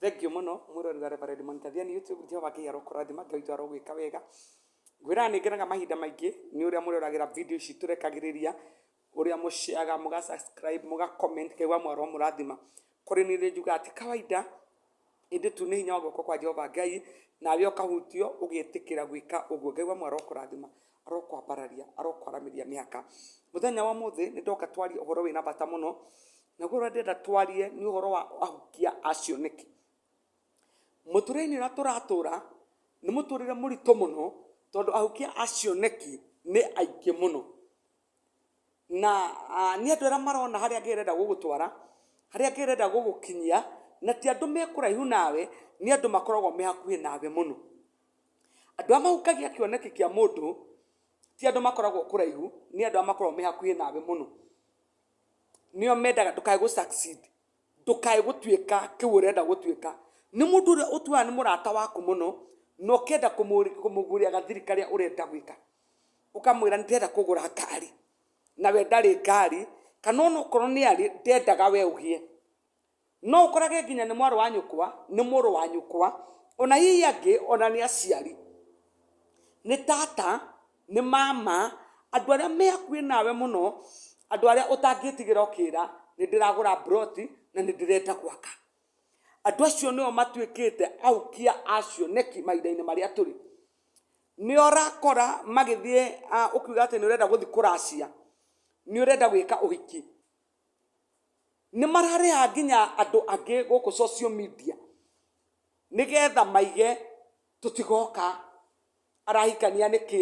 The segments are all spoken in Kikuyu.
Thengiũ mũno mwĩrori wa Reverend Monitor Thiani YouTube, Jehova Ngai arokũrathima, Ngai witũ arogwĩka wega. Ngwĩraga nĩ ngenaga mahinda maingĩ nĩ ũrĩa mũroragĩra video ici tũrekagĩrĩria, ũrĩa mũ share, mũga subscribe, mũga comment, Ngai wa muoyo aromũrathima. Kũrĩ niĩ nĩ njugaga ti kawaida, ĩndĩ tu nĩ hinya wa guoko kwa Jehova Ngai, nawe ũkahutio ũgetĩkĩra gwĩka ũguo. Ngai wa muoyo arokũrathima. arokwambararia arokwaramĩria mĩhaka mũthenya wa mũthĩ nĩ ndoka twarie ũhoro wĩna bata mũno naguo ũrĩa ndĩrenda twarie nĩ ũhoro wa ahukia a cioneki mũtũrĩre-inĩ ũrĩa tũratũra nĩ mũtũrĩre mũritũ mũno tondũ ahukia a cioneki nĩ aingĩ mũno na nĩ andũ arĩa marona harĩa Ngai arenda gũgũtwara, harĩa Ngai arenda gũgũkinyia, na ti andũ me kũraihu nawe, nĩ andũ makoragwo me hakuhĩ nawe mũno. Andũ arĩa mahunjagia kĩoneki kĩa mũndũ, ti andũ makoragwo kũraihu, nĩ andũ arĩa makoragwo me hakuhĩ nawe mũno. Nĩo mendaga ndũkae gũ succeed. ndũkae gũtuĩka kĩu ũrenda gũtuĩka nĩ mũndũ ũrĩa ũtuaga nĩ mũrata waku mũno na ũkenda kũmũgũrĩra gathiri karĩa ũrenda gwĩka ũkamwĩra nĩ ndĩrenda kũgũra ngari na we ndarĩ ngari kana ona okorwo nĩ arĩ ndendaga we ũgĩe no ũkorage nginya nĩ mwarĩ wa nyũkwa nĩ mũrũ wa nyũkwa ona hihi angĩ ona nĩ aciari nĩ tata. Nĩ ma ma, andũ arĩa me hakuhĩ nawe mũno, andũ arĩa ũtangĩtigĩra ũkĩra, nĩ ndĩragũra plot na nĩ ndĩrenda gwaka. Andũ acio nĩo matuĩkĩte aukia a cioneki mahinda-inĩ marĩa tũrĩ. Nĩo ũrakora magĩthiĩ ũkiuga atĩ nĩ ũrenda gũthiĩ kũracia, nĩ ũrenda gwĩka ũhiki. Nĩ mararĩha nginya andũ angĩ gũkũ social media nĩgetha maige tũtigoka arahikania nĩkĩ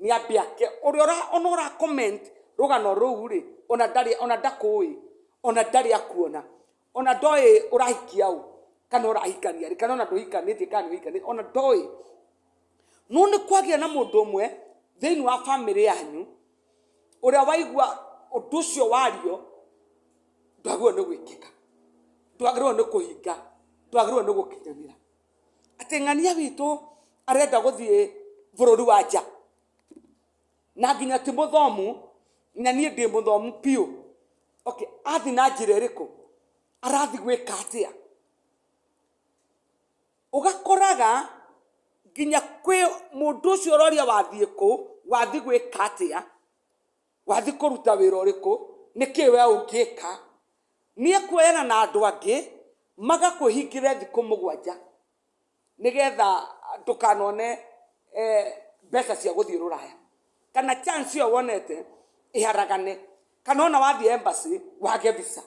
nĩ ambe ake ũrĩa ũra ona ũra comment rũgano rũu rĩ ona ndarĩ ona ndakũĩ ona ndarĩ akuona ona ndoĩ ũrahikia ũ kana ũrahikania rĩ kana ona ndũhikanĩtie kana nĩ ũhikanĩtie ona ndoĩ no nĩ kwagĩa na mũndũ ũmwe thĩinĩ wa bamĩrĩ yanyu ũrĩa waigua ũndũ ũcio wario ndwagĩrĩirwo nĩ gwĩkĩka ndwagĩrĩirwo nĩ kũhinga ndwagĩrĩirwo nĩ gũkinyanĩra atĩ ng'ania witũ arenda gũthiĩ bũrũri wa nja na nginya ti mũthomu na niĩ ndĩ mũthomu biũ okay athiĩ na njĩra ĩrĩkũ arathiĩ gwĩka atĩa ũgakoraga nginya kwĩ mũndũ ũcio ũroria wathiĩ kũ wathiĩ gwĩka atĩa. Wathiĩ kũruta wĩra ũrĩkũ? Nĩ kĩĩ wee ũngĩka? Nĩ ekuoyana na andũ angĩ magakwĩhingĩre thikũ mũgwanja nĩgetha ndũkanone mbeca cia gũthiĩ rũraya. Kana chance ĩyo wonete ĩharagane. Kana ona wathiĩ embassy wage visa.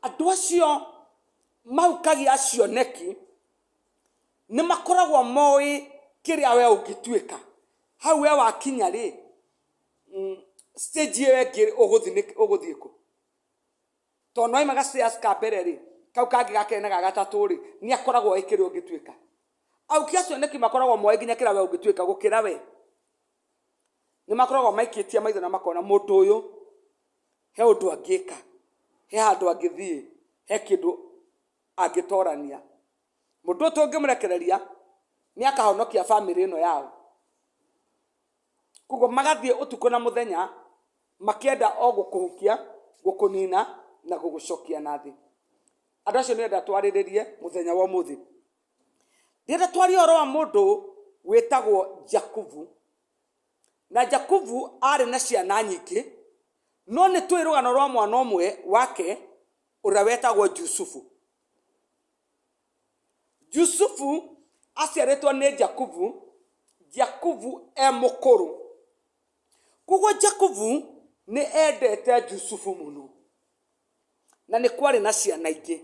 Andũ acio mahukagia cioneki Nĩ makoragwo moĩ kĩrĩa we ũngĩtuĩka. Hau we wakinya rĩ, stage ĩyo ĩngĩ ũgũthiĩ nĩ- ũgũthiĩ kũ? To nĩ waima ga stairs ka mbere rĩ, kau kangĩ ga kerĩ na ga gatatũ rĩ, nĩ akoragwo oĩ kĩrĩa ũngĩtuĩka. Aũki acio nĩkĩ makoragwo moĩ nginya kĩrĩa we ũngĩtuĩka gũkĩra we? Nĩ makoragwo maikĩtie maitho na makona mũndũ ũyũ, he ũndũ angĩka, he handũ angĩthiĩ, he kĩndũ angĩtorania. mũndũ tũngĩmũrekereria nĩ akahonokia bamĩrĩ ĩno yao koguo magathiĩ ũtukũ na mũthenya makĩenda o gũkũhukia gũkũnina na gũgũcokia na thĩ andũ acio nĩenda twarĩrĩrie mũthenya wa ũmũthĩ ndĩrenda twarie ũhoro wa mũndũ wĩtagwo jakubu na jakubu arĩ na ciana nyingĩ no nĩ tũĩ rũgano rwa mwana ũmwe wake ũrĩa wetagwo jusufu Yusufu aciarĩtwo nĩ Jakubu, Jakubu e mũkũrũ. Koguo Jakubu nĩ endete Yusufu mũno, na nĩ kwarĩ na ciana ingĩ.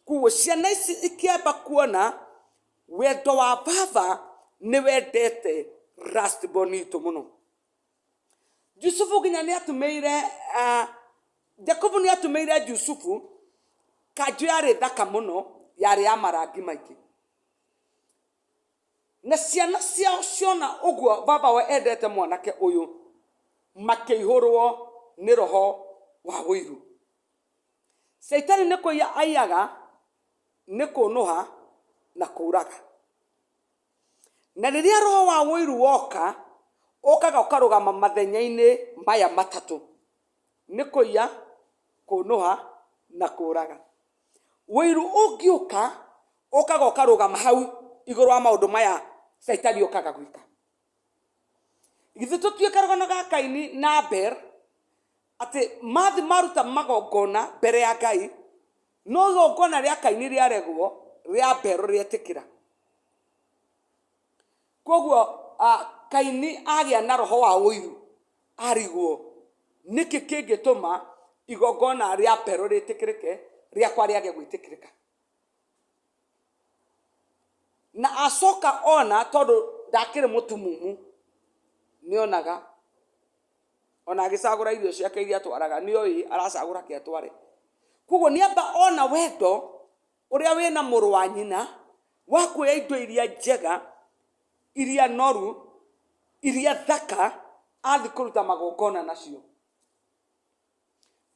Koguo ciana ici ikĩamba kuona wendo wa baba nĩ wendete last born witũ mũno. Yusufu nginya nĩ atũmĩire ah, Jakubu nĩ atũmĩire Yusufu kanjũ yarĩ thaka mũno yarĩ ya marangi maingĩ na ciana ciao ciona ũguo baba we endete mwanake ũyũ makĩihũrwo nĩ roho wa ũiru caitani nĩ kũiya aiyaga nĩ kũnũha na kũũraga na rĩrĩa roho wa ũiru woka ũkaga ũkarũgama mathenya-inĩ maya matatũ nĩ kũiya kũnũha na kũraga ũiru ũngĩũka ũkaga ũkarũgama hau igũrũ wa maũndũ maya caitani okaga gwĩka githĩ tũtiũĩ karũgano ga kaini na abel Atĩ mathiĩ maruta magongona mbere ya Ngai, no igongona rĩa Kaini rĩaregwo, rĩa Abel rĩetĩkĩra. Koguo ah, Kaini agĩa na roho wa ũiru, arigwo. Nĩkĩ kĩngĩtũma igongona rĩa Abel rĩtĩkĩrĩke, rĩakwa rĩage gwĩtĩkĩrĩka? Na acoka ona tondũ ndakĩrĩ mũtumumu, nĩonaga ona agĩcagũra irio ciake iria atwaraga nĩ oĩ aracagũra ke atware koguo nĩ amba ona wendo ũrĩa wĩ na mũrũ wa nyina wa kuoya indo iria njega iria noru iria thaka athiĩ kũruta magongona nacio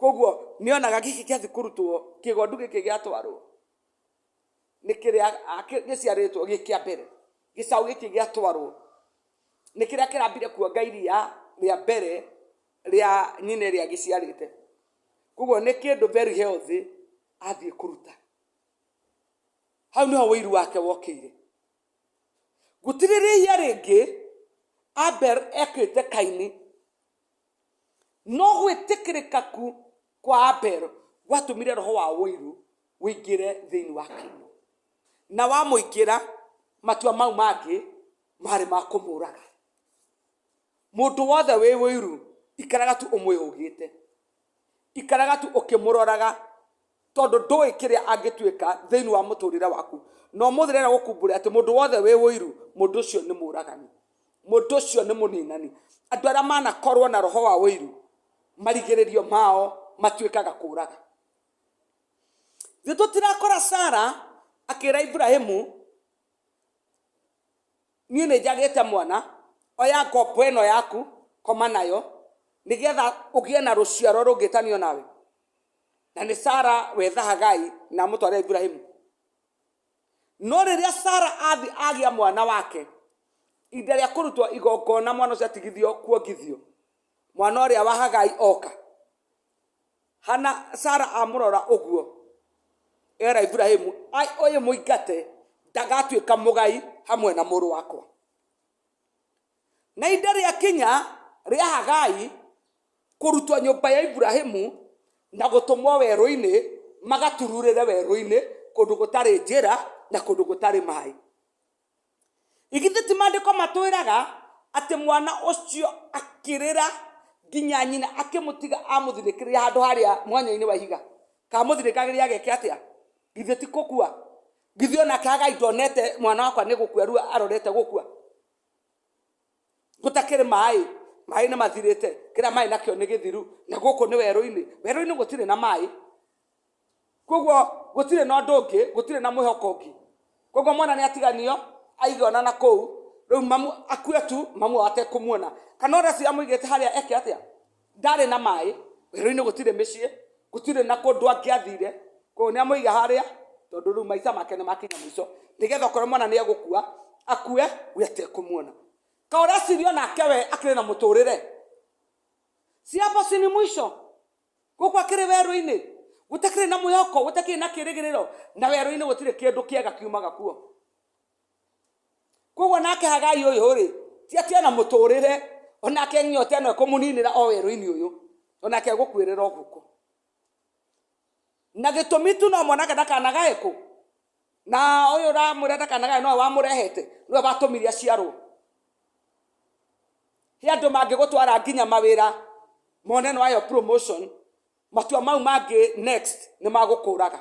koguo nĩ onaga gĩkĩ gĩathiĩ kũrutwo kĩgondu gĩkĩ gĩatwarwo nĩ kĩrĩa gĩciarĩtwo gĩ kĩa mbere gĩcaũ gĩkĩ gĩatwarwo nĩ kĩrĩa kĩrambire kuonga iria rĩa mbere rĩa nyina ĩrĩa gĩciarĩte koguo nĩ kĩndũ very healthy athiĩ kũruta hau nĩho ũiru wake wokĩire gũtirĩrĩia rĩngĩ abel ekĩte kaini no gwĩtĩkĩrĩka ku kwa abel gwatũmire roho wa ũiru ũingĩre thĩinĩ wa kaino na wamũingĩra matua mau mangĩ marĩ ma kũmũraga mũndũ wothe wĩ ũiru ikaraga tu ũmwĩhũgĩte ikaraga tu ũkĩmũroraga tondũ ndũĩ kĩrĩa angĩtuĩka thĩinĩ wa mũtũrĩre waku na ũmũthĩ rĩrĩa gũkumbũre atĩ mũndũ wothe wĩ ũiru mũndũ ũcio nĩ mũragani mũndũ ũcio nĩ mũninani andũ arĩa manakorwo na roho wa ũiru marigĩrĩrio mao matuĩkaga kũraga ithuĩ tũtirakora sara akĩra iburahimu niĩ nĩ njagĩte mwana oya ngombo ĩno yaku koma nayo nĩgetha ũgĩe na rũciaro rũngĩtanio nawe na nĩ sara wetha hagai na amũtware iburahimu no rĩrĩa sara athi agĩa mwana wake ihinda rĩa kũrutwo igongona mwana ũcio atigithio kuongithio mwana ũrĩa wa hagai oka hana sara amũrora ũguo era iburahimu ai ũyũ mũingate ndagatuĩka mũgai hamwe na mũrũ wakwa Na ihinda rĩakinya rĩa Hagai kũrutwo nyũmba ya Iburahimu na gũtũmwo werũ-inĩ, magatururĩre werũ-inĩ kũndũ gũtarĩ njĩra na kũndũ gũtarĩ maĩ. Igithĩ ti maandĩko matwĩraga atĩ mwana ũcio akĩrĩra nginya nyina akĩmũtiga amũthinĩkĩrĩria handũ harĩa mwanya-inĩ wa ihiga kamũthinĩkagĩria ageke atĩa githĩ ti gũkua githĩ onake hagai ndonete mwana wakwa nĩ gũkua rĩu arorete gũkua gũtakĩrĩ maĩ maĩ nĩ mathirĩte kĩrĩa maĩ nakĩo nĩ gĩthiru na gũkũ nĩ werũ-inĩ werũ-inĩ gũtirĩ na maĩ koguo gũtirĩ na ũndũ ũngĩ gũtirĩ na mwĩhoko ũngĩ koguo mwana nĩ atiganio aige ona na kũu rĩu mamu akue tu mamu atekũmuona kana ũrĩa cio amũigĩte harĩa eke atĩa ndarĩ na maĩ werũ-inĩ gũtirĩ mĩciĩ gũtirĩ na kũndũ angĩathire koguo nĩ amũiga harĩa tondũ rĩu maica make nĩ makinya mũico nĩgetha okorwo mwana nĩ egũkua akue we atekũmuona ka ũreciria onake we akĩrĩ na mũtũrĩre si hapo si ni mwisho gũkũ akĩrĩ werũ-inĩ gũtakĩrĩ na mwĩhoko gũtakĩrĩ na kĩrĩgĩrĩro na werũ-inĩ gũtirĩ kĩndũ kĩega kiumaga kuo koguo nake hagai ũyũ rĩ ti atĩ ona mũtũrĩre onake nyota ĩno ĩkũmũninĩra o werũ-inĩ ũyũ onake egũkuĩrĩra ũguko na gĩtũmi tu no mwanake ndakanagae kũ na ũyũ ũramwĩra ndakanagae nowe wamũrehete nĩwe watũmire aciarwo he andũ mangĩgũtwara nginya mawĩra mone nĩwayo promotion matua mau mangĩ next nĩ magũkũraga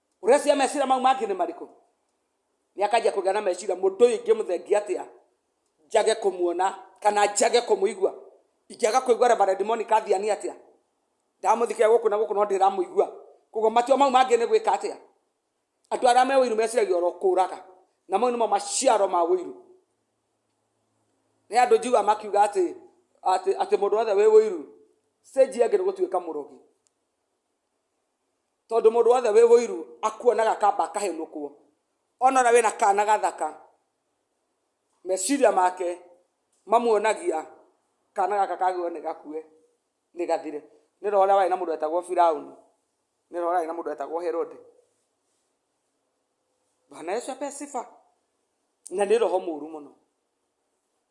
ũrecia mecira mau mangĩ nĩ marĩkũ nĩ akanjia kũgĩa na mecira mũndũ ũyũ ingĩmũthengia atĩa njage kũmuona kana njage kũmũigua ingĩaga kũigua reverend monica athiani atĩa ndamũthikĩra gũkũ na gũkũ no ndĩramũigua koguo matua mau mangĩ nĩ gwĩka atĩa andũ arĩa me ũiru meciragia oro kũũraga na mau nĩmo maciaro ma ũiru nĩ andũ njiga makiuga atĩ atĩ atĩ mũndũ wothe wĩ ũiru stage yake nĩ gũtuĩka mũrogi tondũ mũndũ wothe wĩ ũiru akuonaga kamba akahenũkwo ona ũrĩa wĩna kana gathaka meciria make mamuonagia kana gaka kagĩrĩirwo nĩ gakue nĩ gathire nĩ ta ũrĩa warĩ na mũndũ wetagwo Firaũni nĩ ta ũrĩa warĩ na mũndũ wetagwo Herode bwana yesu ape sifa na nĩ roho mũru mũno.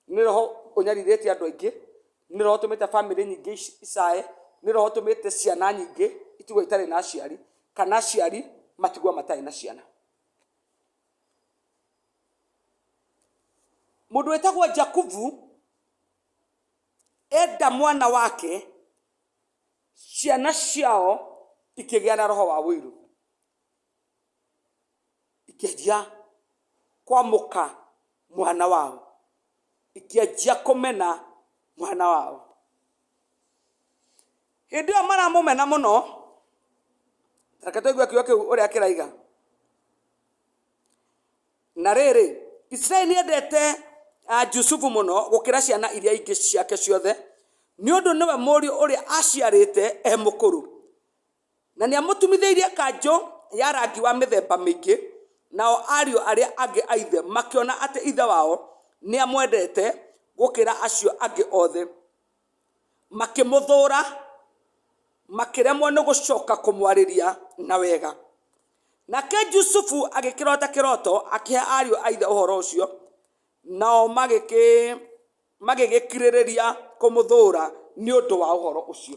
nĩ roho ũnyarirĩte andũ aingĩ nĩ roho ũtũmĩte bamĩrĩ nyingĩ ici- icae nĩ roho ũtũmĩte ciana nyingĩ itigwo itarĩ na aciari kana aciari matigwo matarĩ na ciana mũndũ wĩtagwo jakubu enda mwana wake ciana ciao ikĩgĩa na roho wa wũiru ikĩanjia kwamũka mwana wao ikĩanjia kũmena mwana wao hĩndĩ ĩyo maramũmena mũno reke tũigue kiugo kĩu ũrĩa kĩraiga na rĩrĩ isiraeli nĩendete ah, jusufu mũno gũkĩra ciana iria ingĩ ciake ciothe nĩ ũndũ nĩwe mũriũ ũrĩa aciarĩte e mũkũrũ Na nĩamũtumithĩirie kanjũ ya rangi wa mĩthemba mĩingĩ, nao ariũ arĩa angĩ a ithe makĩona atĩ ithe wao nĩamwendete gũkĩra acio angĩ othe, makĩmũthũũra, makĩremwo nĩ gũcoka kũmwarĩria na wega. Nake Jusufu agĩkĩrota kĩroto akĩhe ariũ a ithe ũhoro ũcio, nao magĩgĩkirĩrĩria kũmũthũũra nĩ ũndũ wa ũhoro ũcio.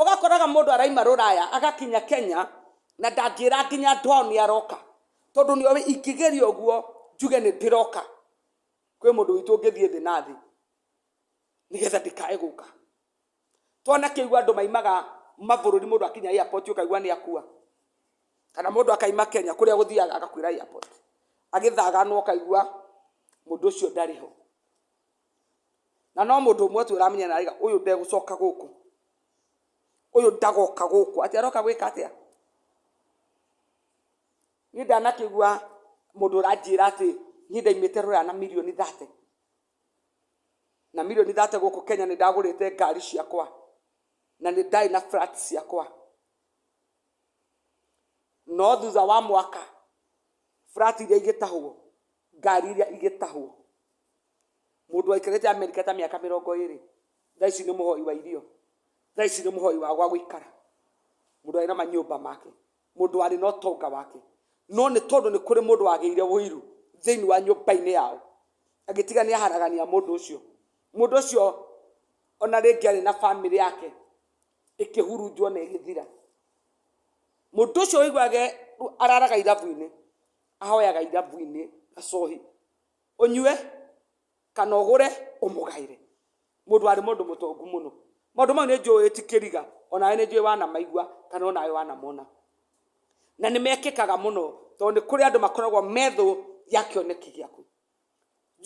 Ũgakoraga mũndũ araima rũraya agakinya Kenya na ndangĩra nginya andũ ao nĩ aroka, tondũ nĩ oĩ ingĩgeria ũguo njuge nĩ ndĩroka kwĩ mũndũ witũ ũngĩthiĩ thĩ na thĩ nĩ getha ndikae gũka. Twanakĩigua andũ maimaga mabũrũri mũndũ akinya airport ũkaigua nĩ akua, kana mũndũ akaima Kenya kũrĩa gũthiaga agakuĩra airport, agĩthaga na ũkaigua mũndũ ũcio ndarĩ ho. na no mũndũ ũmwe tu ũramenya na rĩga ũyũ ndegũcoka gũkũ ũyũ ndagoka gũkũ atĩ aroka gwĩka atĩa niĩ ndanakĩgua mũndũ ũranjĩra atĩ niĩ ndaimĩte rũraya na milioni thate na milioni thate gũkũ kenya nĩ ndagũrĩte ngari ciakwa na nĩ ndarĩ na flat ciakwa no thutha wa mwaka flat iria igĩtahwo ngari iria igĩtahwo mũndũ waikarĩte amerika ta mĩaka mĩrongo ĩrĩ thaa ici nĩ mũhoi wa irio thaa ici nĩ mũhoi wa gwa gũikara mũndũ arĩ na manyũmba make mũndũ arĩ na ũtonga wake no nĩ tondũ nĩ kũrĩ mũndũ wagĩire ũiru thĩinĩ wa nyũmba-inĩ yao agĩtiga nĩ aharagania mũndũ ũcio mũndũ ũcio ona rĩngĩ arĩ na bamĩrĩ yake ĩkĩhurunjwo na ĩgĩthira mũndũ ũcio ũiguage araraga irabu-inĩ ahoyaga irabu-inĩ gacohi ũnyue kana ũgũre ũmũgaĩre mũndũ warĩ mũndũ mũtongu mũno maũndũ mau nĩ njũĩ ti kĩriga onawe nĩ njũĩ wanamaigua kana onawe wanamona na nĩ mekĩkaga mũno tondũ nĩ kũrĩ andũ makoragwo methũ ya kĩoneki gĩaku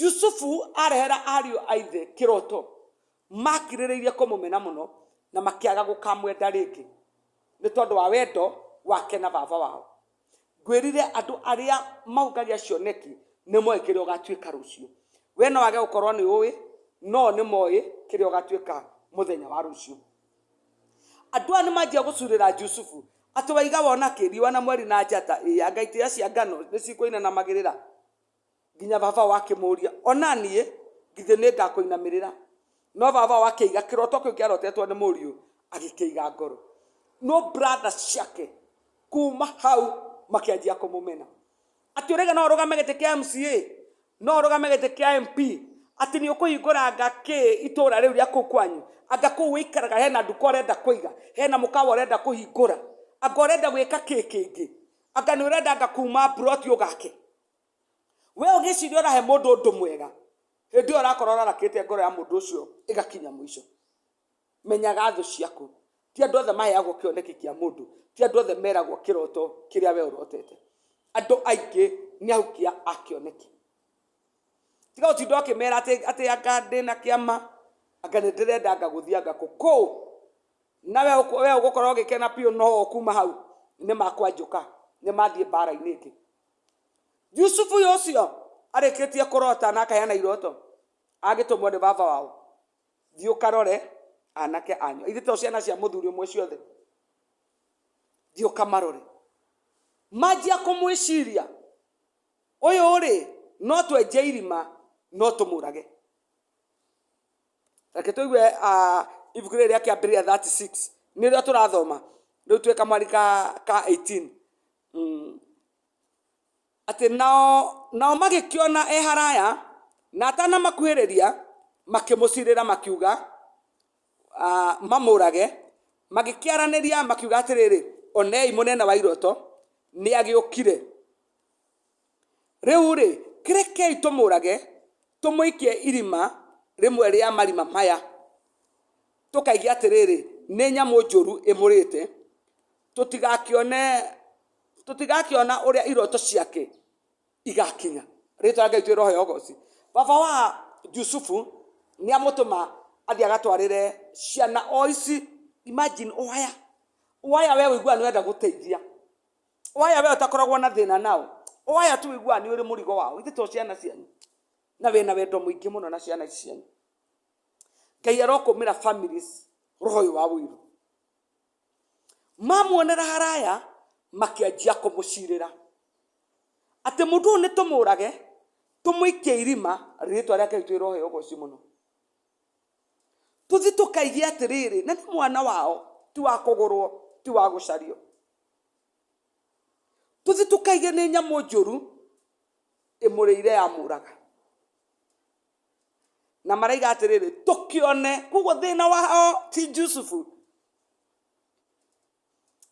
yusufu arehera ariũ a ithe kĩroto makirĩrĩirie kũmũmena mũno na makĩaga gũkamwenda rĩngĩ nĩ tondũ wa wendo wake na baba wao ngwĩrire andũ arĩa maũngagia cioneki nĩ moĩ kĩrĩa ũgatuĩka rũciũ we no wage gũkorwo nĩ ũĩ no nĩ moĩ kĩrĩa ũgatuĩka mũthenya wa rũciũ andũ aya nĩ manjia gũcurĩra jusufu atĩ waiga wona kĩ riũa na mweri na njata ĩya ngai cia ngano nĩ cikũinanamagĩrĩra nginya babao akĩmũũria, O na niĩ githĩ nĩ ngakũinamĩrĩra? No babao akĩiga kĩroto kĩu kĩarotetwo nĩ mũriũ, agĩkĩiga ngoro. No brother ciake kuma hau makĩanjia kũmũmena. Atĩ ũrege no ũrũgame gĩtĩ kĩa MCA, no ũrũgame gĩtĩ kĩa MP, atĩ nĩ ũkũhingũra anga kĩ itũũra rĩu rĩa kũu kwanyu, anga kũu ũikaraga hena nduka ũrenda kũiga, hena mũkawa ũrenda kũhingũra, anga ũrenda gwĩka kĩ kĩngĩ, anga nĩ ũrenda anga kuma mburoti ũgake. we ũgĩciria ũrahe mũndũ ũndũ mwega hĩndĩ ĩyo ũrakorwo ũrarakĩte ngoro ya mũndũ ũcio ĩgakinya mũico menyaga thũ ciaku ti andũ othe maheagwo kĩoneki kĩa mũndũ ti andũ othe meragwo kĩroto kĩrĩa we ũrotete andũ aingĩ nĩ ahukia a kĩoneki tiga ũtinda ũkĩmera atĩ atĩ anga ndĩ na kĩama anga nĩ ndĩrenda anga gũthiĩ anga kũ kũ na we ũkũ- we ũgũkorwo ũgĩkena biũ no ũkuma hau nĩ makwanjũka nĩ mathiĩ mbara-inĩ ĩngĩ yusufu ũyũ ũcio arĩkĩtie kũrota na akaheana iroto agĩtũmwo nĩ baba wao thiĩ ũkarore anake anyu ithe to ciana cia mũthuri ũmwe ciothe thiĩ ũkamarore manjia kũmwĩciria ũyũ rĩ no twenje irima no tũmũrage reke tũigue ah, ibuku rĩrĩ rĩa kĩambĩrĩria 36 nĩ rĩo tũrathoma rĩu twĩ kamwari ka, ka 18 mm. atĩ nao, nao magĩkĩona e haraya na atanamakuhĩrĩria makĩmũcirĩra makiuga ah, mamũrage magĩkĩaranĩria makiuga atĩrĩrĩ onei mũnene wa iroto nĩ agĩũkire Rĩu-rĩ, rekei tũmũũrage, tũmũikie irima rĩmwe rĩa marima maya, tũkaigue atĩrĩrĩ, nĩ nyamũ njũru ĩmũrĩte, tũtigakĩone, tũtigakĩona ũrĩa iroto ciake igakinya. Rĩĩtwa rĩa Ngai rĩroheo ũgooci. Baba wa Jusufu nĩ amũtũma athiĩ agatwarĩre ciana o ici. Imagine, oya, oya wee ũiguaga nĩ ũrenda gũteithia. oya we ũtakoragwo na thĩna nao oya tu ũiguaga nĩ ũrĩ mũrigo wao ithe to ciana cianyu na wĩna wendo mũingĩ mũno na ciana ici cianyu ngai arokũmĩra families roho ũyũ wa wĩiru mamuonera haraya makĩanjia kũmũcirĩra atĩ mũndũ ũyũ nĩ tũmũrage tũmũikie irima rĩtwa rĩake ritũ roho yogo ũcio mũno tũthi tũkaigie atĩrĩrĩ na nĩ mwana wao ti wa kũgũrwo ti wa gũcario tũthi tũkaige nĩ nyamũ njũru ĩmũrĩire ya mũraga na maraiga atĩrĩrĩ tũkĩone koguo thĩna wao ti jusufu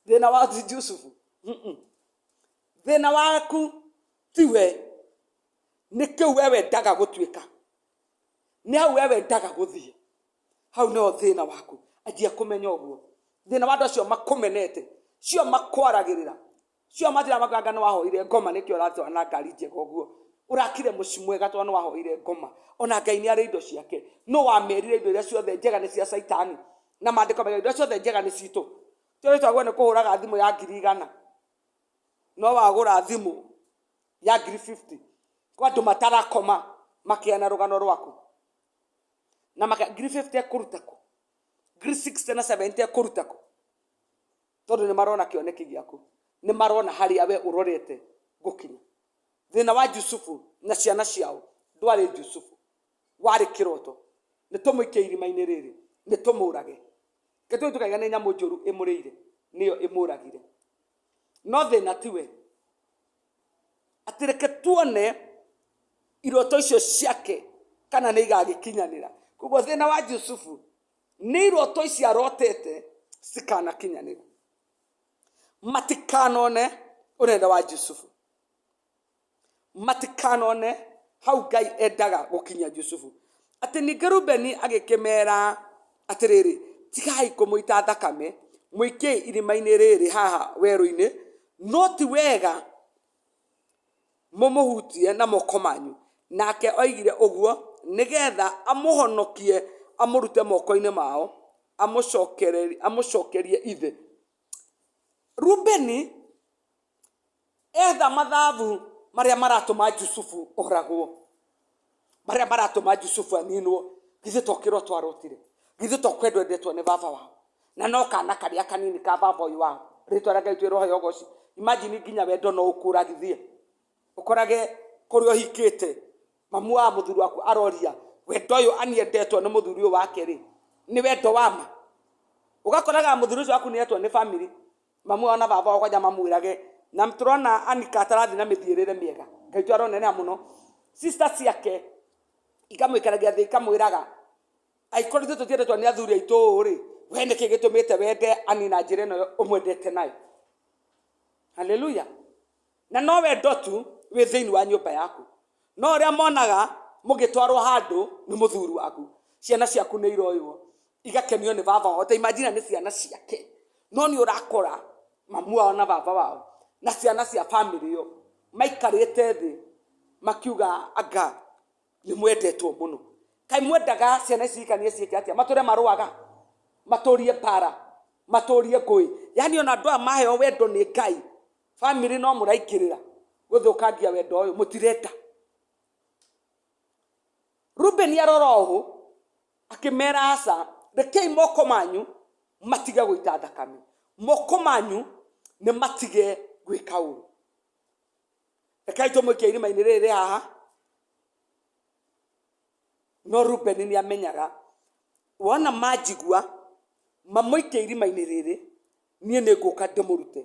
thĩna wao ti jusufu Mm-mm. thĩna waku tiwe nĩ kĩu we wendaga gũtuĩka nĩ hau we wendaga gũthiĩ hau nĩho thĩna waku anjia kũmenya ũguo thĩna wa andũ acio makũmenete cio makwaragĩrĩra cio mathira makwanga nĩ wahoire ngoma nĩkĩ ũratwara na ngari njega ũguo ũrakire mũci mwega tondũ nĩ wahoire ngoma ona ngai nĩ arĩ indo ciake no wamerire indo iria ciothe njega nĩ cia caitani na maandĩko mega indo iria ciothe njega nĩ citũ tũrĩ twagwo nĩ kũhũraga thimũ ya ngiri igana no wagũra thimũ ya ngiri 50 kwa andũ matarakoma makĩana rũgano rwaku na maka ngiri 50 ekũruta kũ ngiri 60 na 70 ekũruta kũ tondũ nĩ marona kĩoneki gĩaku nĩ marona harĩa we ũrorete gũkinya thĩna wa jusufu na ciana ciao ndwarĩ jusufu warĩ kĩroto nĩ tũmũikie irima-inĩ rĩrĩ nĩ tũmũrage ketũ tũkaiga nĩ nyamũ njũru ĩmũrĩire nĩyo ĩmũragire no thĩna tiwe atĩ reke tuone iroto icio ciake kana nĩ igagĩkinyanĩra koguo thĩna wa jusufu nĩ iroto ici arotete cikanakinyanĩra matikanone ũnene wa jusufu matikanone hau ngai endaga gũkinya jusufu atĩ ningĩ rubeni agĩkĩmera atĩrĩrĩ tigai kũmũita thakame mũikiei irima-inĩ rĩrĩ haha werũ-inĩ No ti wega mũmũhutie na moko manyu. Nake oigire ũguo nĩ getha amũhonokie amũrute moko-inĩ mao amũcokere- amũcokerie ithe. Rubeni etha mathabu marĩa maratũma Jusufu oragwo. marĩa maratũma jusufu aninwo githĩ tokĩrwo twarotire githĩ tokwendwo endetwo nĩ baba wao na no kana karĩa kanini ka baba ũyũ wao rĩtwa rĩa ngai twĩrohe yogoci imajini nginya wendo no ũkũragithie ũkorage kũrĩa ũhikĩte mamu wa mũthuri waku aroria wendo ũyũ aniendetwo nĩ mũthuri ũyũ wake rĩ nĩ wendo wa ma ũgakoraga mũthuri ũcio waku nĩetwo nĩ bamĩrĩ mamu wao na baba wao kwanja mamwirage na turona anika atarathi na mithiirire miega ngai tu aronenera muno sister ciake ikamwikaragia thi ikamwiraga aikorwo ithu tutiendetwo ni athuri aitu ri we niki gitumite wende anina njira ino umwendete nayo haleluya na no wendo tu wĩ thĩinĩ wa nyũmba yaku no ũrĩa monaga mũgĩtwarwo handũ nĩ mũthuri waku ciana ciaku nĩ iroywo igakenio nĩ baba wao ta imagine nĩ ciana ciake no nĩ ũrakora mamu wao na baba wao na ciana cia bamĩrĩ ĩyo maikarĩte thĩ makiuga anga nĩ mwendetwo mũno kaĩ mwendaga ciana ici ikanie ciĩke atĩa matũre marũaga matũrie mbara matũrie ngũĩ yani ona andũ aya maheo wendo nĩ ngai family no mũraingĩrĩra gũthũkangia wendo ũyũ mũtirenda rubeni arora ũũ akĩmera aca rekei moko manyu matige gũita thakame moko manyu nĩ matige gwĩka ũru rekei tũmũikia irima-inĩ rĩrĩ rĩ haha no rubeni nĩ amenyaga wona manjigua mamũikia irima-inĩ rĩrĩ niĩ nĩ ngũka ndĩmũrute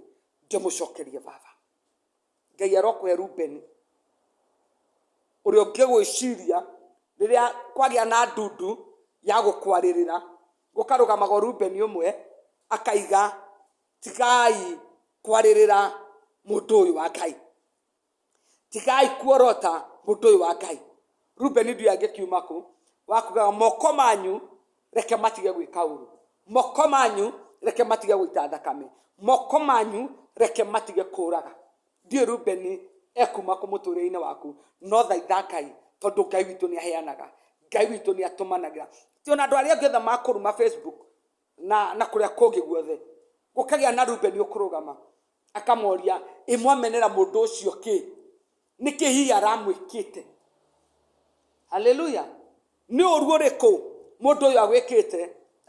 ndĩmũcokerie baba ngai arokũhe rubeni ũrĩa ũngĩgwĩciria rĩrĩa kwagĩa na ndundu ya gũkwarĩrĩra gũkarũgamaga ũrubeni ũmwe akaiga tigai kwarĩrĩra mũndũ ũyũ wa ngai tigai kuorota mũndũ ũyũ wa ngai rubeni ndio angĩkiuma kũ wakugaga moko manyu reke matige gwĩka ũru moko manyu reke matige gũita thakame moko manyu reke matige kũraga ndiĩ rubeni ekuma kũ mũtũrĩre-inĩ waku no thaitha ngai tondũ ngai witũ nĩ aheanaga ngai witũ nĩ atũmanagira ti ona andå arä angä othe makåruma facebook na, na kũrĩa kũngĩ guothe gũkagĩa na rubeni ũkũrũgama akamoria ĩ mwamenera mũndũ ũcio kĩ nĩkĩ hihi aramwĩkĩte haleluya nĩ ũru ũrĩkũ mũndũ ũyũ agwĩkĩte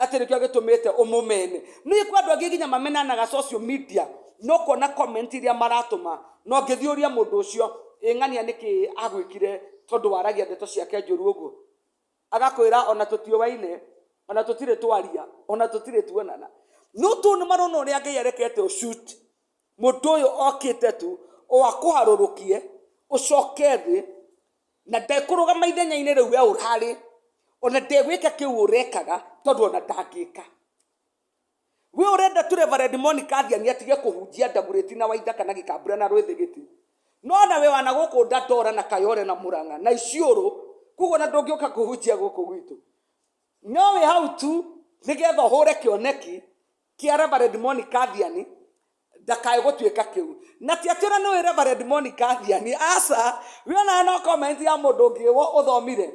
atĩ nĩkĩo agĩtũmĩte ũmũmene nĩ kwa andũ angĩ nginya mamenanaga social media no kuona comment iria maratũma no ngĩthiĩ ũria mũndũ ũcio ĩ ng'ania nĩkĩ agwĩkire tondũ waragia ndeto ciake njũru ũguo agakwĩra ona tũtiũwaine ona tũtirĩ twaria ona tũtirĩ tuonana no tũ nĩ marona ũrĩa ngai arekete ũcut mũndũ ũyũ okĩte tu o akũharũrũkie ũcoke thĩ na ndekũrũgama ithenya-inĩ rĩu we ũrarĩ ona ndegwĩka kĩu ũrekaga tondũ ona ndangĩka we urenda tu reverend monica athiani atige kuhunjia ndaguriti na waitha kana gikambura na rwithigiti no na we wana guku ndandora na kayore na muranga na iciuru koguo na ndungiuka kuhunjia guku gwitu no we hau tu nigetha uhure kioneki kia reverend monica athiani ndakae gutuika kiu na ti atira ni we reverend monica athiani aca we ona no comment ya mundu ungi wo uthomire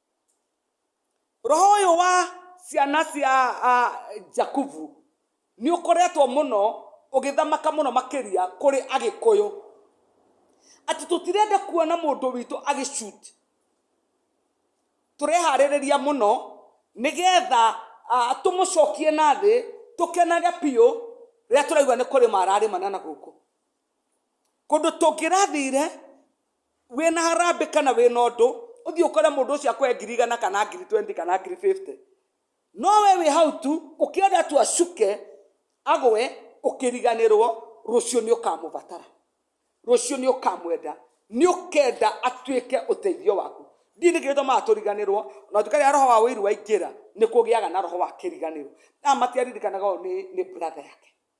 roho ũyũ wa ciana cia ah, jakubu nĩ ũkoretwo mũno ũgĩthamaka mũno makĩria kũrĩ agĩkũyũ atĩ tũtirenda kuona mũndũ witũ agĩcut tũreharĩrĩria mũno nĩgetha ah, tũmũcokie na thĩ tũkenage biũ rĩrĩa tũraigua nĩ kũrĩma ararĩmana na gũkũ kũndũ tũngĩrathire wĩna harambĩ kana wĩna ũndũ ũthiĩ ũkore mũndũ ũcio akũhe ngiri igana kana ngiri 20 kana ngiri 50 no we wĩ hau tu ũkĩenda tu acuke agwe ũkĩriganĩrwo rũciũ nĩ ũkamũbatara rũciũ nĩ ũkamwenda nĩ ũkenda atuĩke ũteithio waku ndini kĩrĩa tũmaga tũriganĩrwo na tuĩka rĩa roho wa ũiru waingĩra nĩ kũgĩaga na roho wa kĩriganĩro na matiaririkanaga ũyũ nĩ nĩ brother yake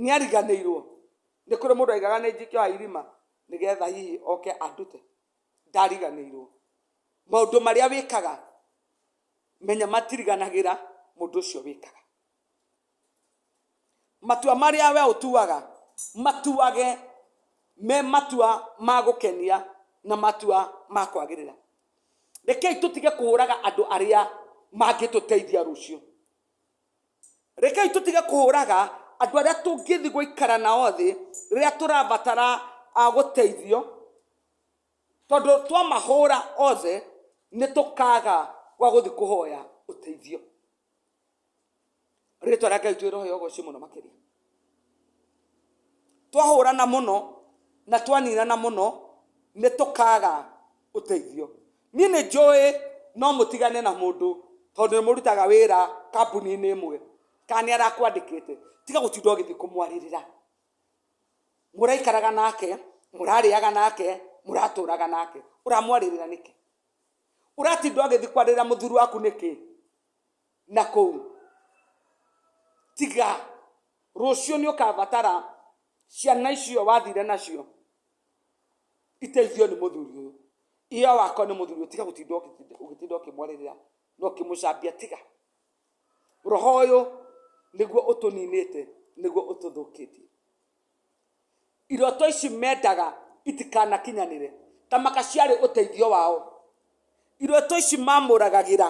nĩ ariganĩirwo nĩ kũrĩ mũndũ aigaga nĩ njikĩoha irima nĩgetha hihi oke andute ndariganĩirwo maũndũ marĩa wĩkaga menya matiriganagĩra mũndũ ũcio wĩkaga matua marĩa we ũtuaga matuage me matua ma gũkenia na matua ma kwagĩrĩra rekei tũtige kũhũraga andũ arĩa mangĩtũteithia rũciũ Rekei tũtige kũhũraga andũ arĩa tũngĩthiĩ gũikara nao thĩ rĩrĩa tũrabatara ah, gũteithio, tondũ twamahũra othe nĩ tũkaga gwa gũthiĩ kũhoya ũteithio. Rĩtwa rĩa Ngai twĩrohe ũgocio mũno makĩria. twahũrana mũno na twaninana mũno nĩ tũkaga ũteithio niĩ nĩ njũĩ no mũtigane na mũndũ tondũ nĩ mũrutaga wĩra kambuni-inĩ ĩmwe kana nĩ arakwandĩkĩte tiga gũtinda ũgĩthiĩ kũmwarĩrĩra mũraikaraga nake mũrarĩaga nake mũratũraga nake ũramwarĩrĩra nĩkĩ ũratinda ũgĩthiĩ kwarĩrĩra mũthuri waku nĩkĩ na kũu. Tiga rũciũ nĩ ũkabatara ciana icio wathire nacio iteithio nĩ mũthuri ũyũ iyo wako nĩ mũthuri ũyũ tiga gũtinda ũgĩtinda- ũgĩtinda ũkĩmwarĩrĩra na ũkĩmũcambia tiga roho ũyũ nĩguo ũtũninĩte nĩguo ũtũthũkĩtie iroto ici mendaga itikanakinyanĩre tamaka ciarĩ ũteithio wao iroto ici mamũragagĩra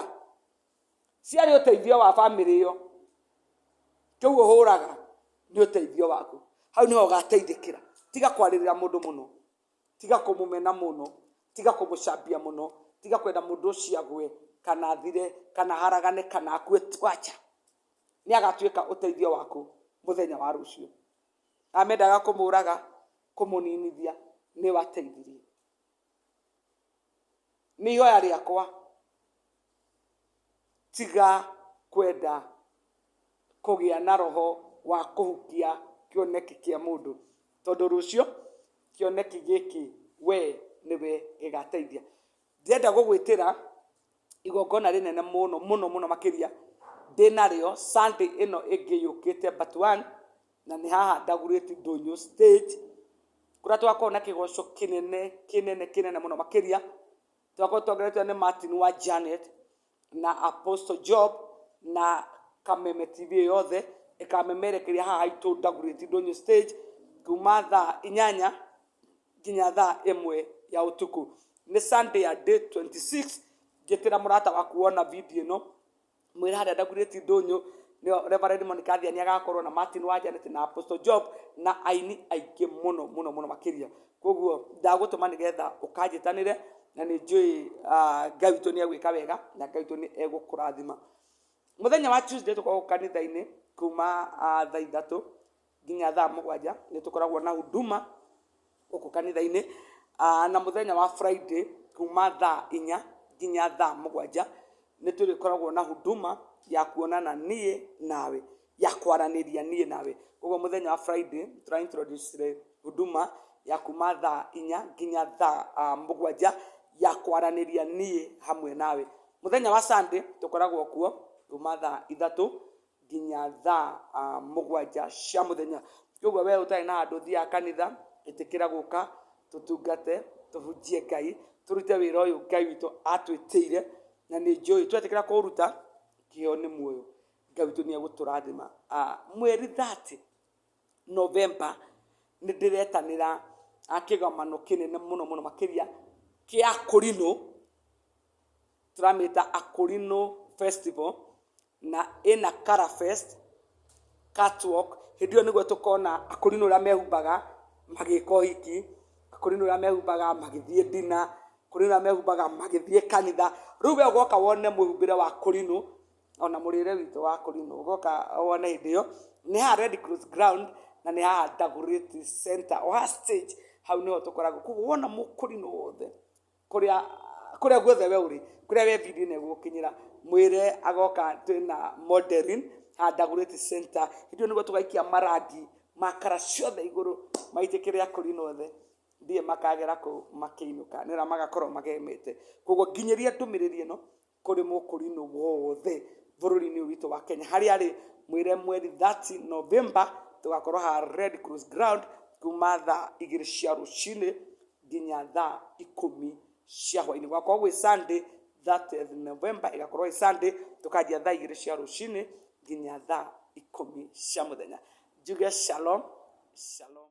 ciarĩ ũteithio wa bamĩrĩ ĩyo kĩu ũhũraga nĩ ũteithio waku hau nĩho ũgateithĩkĩra tiga kwarĩrĩra mũndũ mũno tiga kũmũmena mũno tiga kũmũcambia mũno tiga kwenda mũndũ ũcio agwe kana athire kana haragane kana akue twacha nĩ agatuĩka ũteithio waku mũthenya wa rũciũ amendaga kũmũraga kũmũninithia nĩ wateithirie nĩ ihoya rĩakwa tiga kwenda kũgĩa na roho wa kũhukia kĩoneki kĩa mũndũ tondũ rũciũ kĩoneki gĩkĩ we nĩwe gĩgateithia. Ndĩrenda gũgwĩtĩra igongona rĩnene mũno mũno mũno makĩria ndĩ narĩo sunday ĩno ĩngĩ yũkĩte but one na nĩ haha ndagurĩti ndũnyũ stage kũrĩa twakorwo na kĩgoco kĩnene kĩnene kĩnene mũno makĩria twakorwo tuongeretwo nĩ martin wa janet na apostle job na kameme tv ĩyo yothe ĩkamemerekeria haha haitũ ndagurĩti ndũnyũ stage kuma thaa inyanya nginya thaa ĩmwe ya ũtukũ nĩ sunday ya day 26 njĩtĩra mũrata waku wona video ĩno mwĩre harĩa ndagurĩti ndũnyũ nĩyo reverend monica athiani agakorwo na martin wa janet na apostle job na aini aingĩ mũno mũno mũno makĩria koguo ndagũtũma nĩgetha ũkanjĩtanĩre na nĩ njũĩ ah, ngai witũ nĩ egwĩka wega na ngai witũ nĩ egũkũrathima mũthenya wa tuesday tũkoragwo kanitha-inĩ kuma ah, thaa ithatũ nginya thaa mũgwanja nĩ tũkoragwo na huduma gũkũ kanitha-inĩ Ah, na mũthenya wa friday kuma thaa inya nginya thaa mũgwanja nĩ tũrĩkoragwo na huduma ya kuonana niĩ nawe ya kwaranĩria niĩ nawe koguo mũthenya wa friday tũra introduce huduma ya kuma thaa inya nginya thaa ah, mũgwanja ya kwaranĩria niĩ hamwe nawe mũthenya wa sunday tũkoragwo kuo kuma thaa ithatũ nginya thaa ah, mũgwanja cia mũthenya koguo we ũtarĩ na andũ thiaga kanitha ĩtĩkĩra gũka tũtungate tũhunjie ngai tũrute wĩra ũyũ ngai witũ atwĩtĩire na nĩ njũĩ twetĩkĩra kũũruta kĩo nĩ muoyo ngai witũ nĩ egũtũrathima Ah, mweri 30 novemba nĩ ndĩretanĩra ah, kĩgomano kĩnene mũno mũno makĩria kĩa kũrinũ tũramĩta Akorino Festival, na ĩna Color Fest, Catwalk, hĩndĩ ĩyo nĩguo tũkona Akorino ũrĩa mehumbaga magĩka ũhiki, Akorino ũrĩa mehumbaga magĩthiĩ ndina, Akorino ũrĩa mehumbaga magĩthiĩ kanitha, rĩu we ũgoka wone mwĩhumbĩre wa Akorino, ona mũrĩre witũ wa Akorino, ũgoka wone hĩndĩ ĩyo, nĩ haha Red Cross Ground, na nĩ haha Dagoretti Centre, o haha stage hau nĩho tũkoragwo, koguo wona Mũkorino wothe. kũrĩa kũrĩa guothe we ũrĩ kũrĩa we video ĩno ĩgũkinyĩra mwĩre agoka twĩna modeling handagurĩti center hĩndĩ ĩyo nĩguo tũgaikia marangi makara ciothe igũrũ maitĩke rĩa kũri nothe ndiĩ makagera kũu makĩinũka nĩra magakorwo magemete koguo nginyĩria ndũmĩrĩri ĩno kũrĩ mũkũrinũ wothe bũrũri-inĩ ũyũ witũ wa Kenya harĩa rĩ mwĩre mweri 30 November tũgakorwo ha Red Cross Ground kuma thaa igĩrĩ cia rũcinĩ nginya thaa ikũmi cia hwainĩ gwakorwo gwĩ Sunday 30th November ĩgakorwo ĩ Sunday tũkanjia thaa igĩrĩ cia rũcinĩ nginya thaa ikũmi cia mũthenya njuge shalom shalom